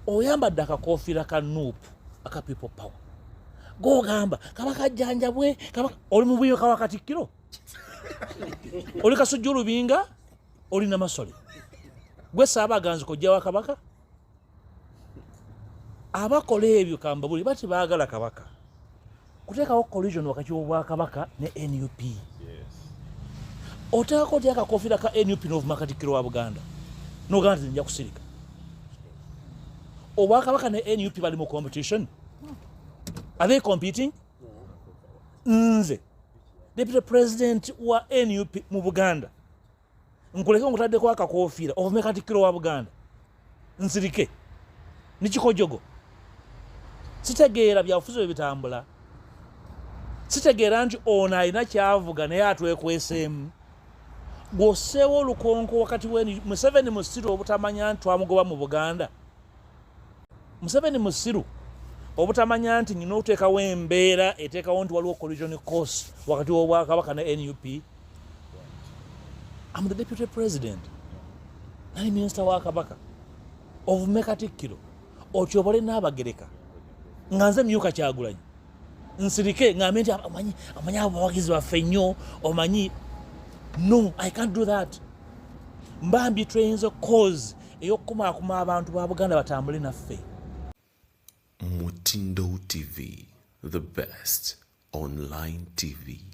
oyambadde akakofiira ka nup aka people power gogamba kaba kajjanjabwe oli mubuyo kawa katikkiro oli kasujja olubinga oli namasole gwe saaba aganzi kojja wa kabaka abakola ebyo kambabuli bati baagala kabaka kuteekawo collision wakati w'obwakabaka ne nup oteekako otya akakofiira ka nup n'ovuma katikkiro wa buganda nogamba nti nja kusirika obwakabaka ne nup bali mu competition are they competing nze deputy president wa nup mu buganda nkuleke nkutaddeko akakofiira ovume katikkiro wa buganda nsirike nikikojogo sitegeera byabufuzi bwe bitambula sitegeera nti ono alina kyavuga naye atwekweseemu gwoseewo olukonko wakati weni museveni musiru obutamanya nti twamugoba mu buganda museveni musiru obutamanya nti nyina oteekawo embeera eteekawo nti waliwo collision course wakati wobwakabaka ne nup am the deputy president nali minisita wa kabaka ovume katikkiro otyobole n'abagereka nga nze myuka kyagulanyi nsirike ngambe nti amanyi amanyi abo bawagizi baffe nnyo omanyi no i can't do that mbambi tweyinza cause eyokukumaakuma abantu ba buganda batambule naffe mutindo tv the best online tv